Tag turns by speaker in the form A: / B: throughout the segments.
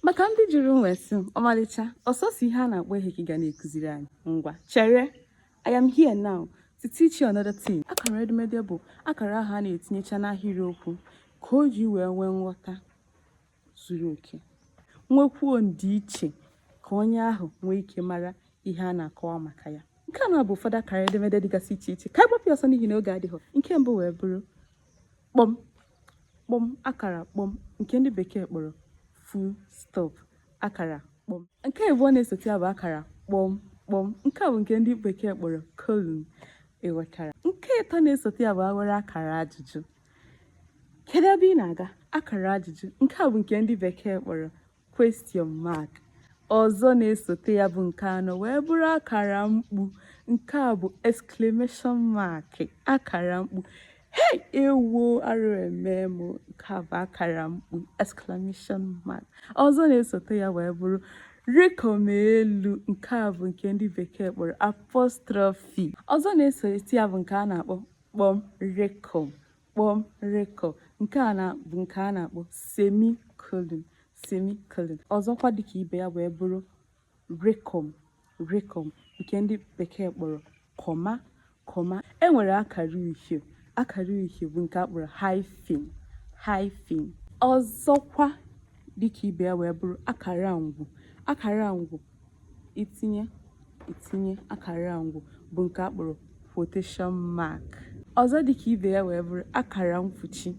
A: maka ndị jụrụ m wee sị m ọmalịcha ọ sọsọ ihe a na-akpọ ihe ka ị ga na-akụziri anyị ngwa chere I am here now to teach you another thing akara edemede bụ akara ahụ a na-etinyecha n'ahịrịokwu ka o ji wee nwee nghọta zuru oke nwekwuo ndịiche ka onye ahụ nwee ike mara ihe a na-akọwa maka ya nke a na-abụ ụfọdụ akara edemede dịgasị iche iche ka a gbapụ ọsọ n'ihi na oge adịghị nke mbụ wee bụrụ kpọm kpọm akara kpọm nke ndị bekee kpọrọ full stop akara kpọm nke abụọ na-esote ya bụ akara kpọm kpọm nke a bụ nke ndị bekee kpọrọ colon ị ghọtara nke ịtọ na-esote ya bụ e nwere akara ajụjụ kedu ebe ị na-aga akara ajụjụ nke a bụ nke ndị bekee kpọrọ question mark ọzọ na-esote ya bụ nke anọ wee bụrụ akara mkpu nke a bụ exclamation mark akara mkpu hey ewo arụ emee m nke a bụ akara mkpu exclamation mark ọzọ na-esote ya wee bụrụ rịkọm elu nke a bụ nke ndị bekee kpọrọ apostrophe ọzọ na-esote ya bụ nke a na-akpọ kpọm rịkọm kpọm rịkọm nke a na-abụ nke a na-akpọ semicolon semicolon ọzọkwa dịka ibe ya wee bụrụ rịkọm rịkọm nke ndị bekee kpọrọ comma comma e nwere akara uhie akara uhie bụ nke a kpọrọ hyphen hyphen ọzọkwa dịka ibe ya wee bụrụ akara ngwu akara ngwu itinye itinye akara ngwu bụ nke a kpọrọ quotation mark ọzọ dịka ibe ya wee bụrụ akara mkpuchi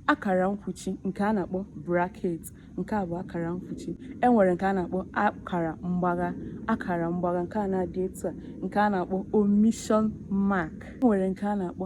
A: akara mkpuchi nke a na-akpọ bracket nke a bụ akara mkpuchi e nwere nke a na-akpọ akara mgbagha akara mgbagha nke a na-adị etu a nke a na-akpọ omission mark e nwere nke a na-akpọ